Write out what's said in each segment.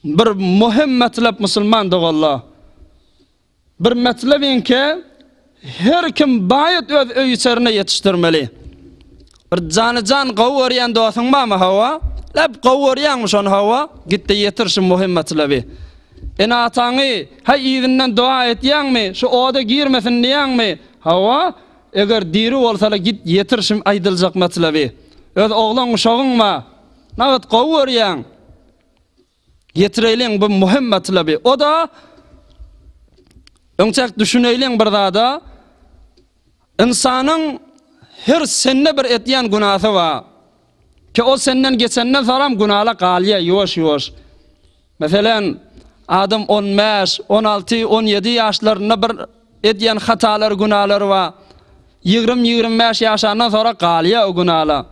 Bir möhüm metlep musulman doganlar. Bir metlebiňki her kim baýat öz öý içerine ýetişdirmeli. Bir jany-jan gowy görýän dostuň barmy hawa? Lep gowy görýäňmi şony hawa? Gitde ýetir şu möhüm metlebi. Ene-ataňy haý yzyndan doga etýäňmi? Şu oda girmesin diýýäňmi? Hawa? Eger diri bolsalar git ýetir şu aýdyljak metlebi. Öz oglan uşagyň bar. Nagt gowy görýäň. Ýetireýliň bu möhüm matlaby. O-da öňçäk düşüneýliň bir zada. Ynsanyň her sende bir etýän günasy bar. Ki o senden geçenden soňam günala galýar ýuwaş-ýuwaş. Meselem, adam on bäş, on alty, on ýedi ýaşlarynda bir edýän hatalary, günalary bar. Ýigrimi, ýigrimi bäş ýaşandan soňra galýar o günala.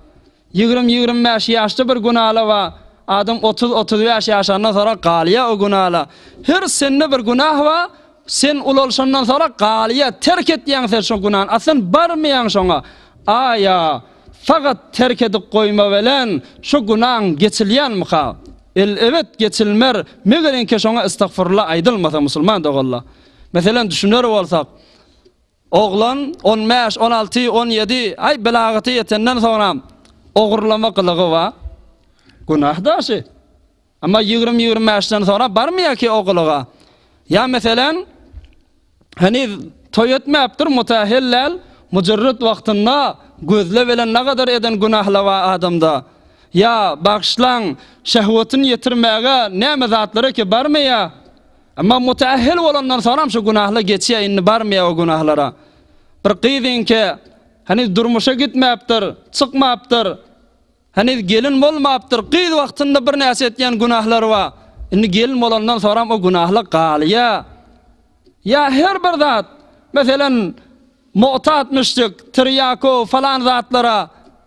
Ýigrimi-ýigrimi bäş ýaşda bir gün ala bar. Adam otuz-otuz bäş ýaşandan soňra galýar o gün ala. Her sende bir günah bar, sen ulalşandan soňra galýar, terk etýäň sen şo günany, a sen barmaýaň şoňa. A-ýa, sagat terk edip goýma bilen şo günaň geçilýänmika? El-ebet geçilmer, megerenkä şoňa estagfurullah aýdylmasa, musulman doganlar. Meselem, düşüner bolsak, Oglan on bäş, on alty, on ýedi aý belagata ýetenden soňram ogurlama gylygy bar. Günah daşy. Emma ýigrimi, ýigrimi bäşden soňra barmaýarki o gylyga. Ýa meselem, heniz toý etmäpdir, mutahel däl, mujyrryt wagtynda gözle bilen nagadar eden günahlar bar adamda. Ýa, bagyşlaň, şehwetini ýetirmäge näme zatlaraki barmaýar. Emma müteahhil bolandan soňam şu günahly geçýär indi barmaýar o günahlara. Bir gyz inke heniz durmuşa gitmäpdir, çykmapdyr. Heniz gelin bolmapdyr. Gyz wagtynda birnäçe etýän günahlary bar. Indi gelin bolandan soňam o günahly galýar. Ýa her bir zat, meselem, muhtat müşrik, tirýakow falan zatlara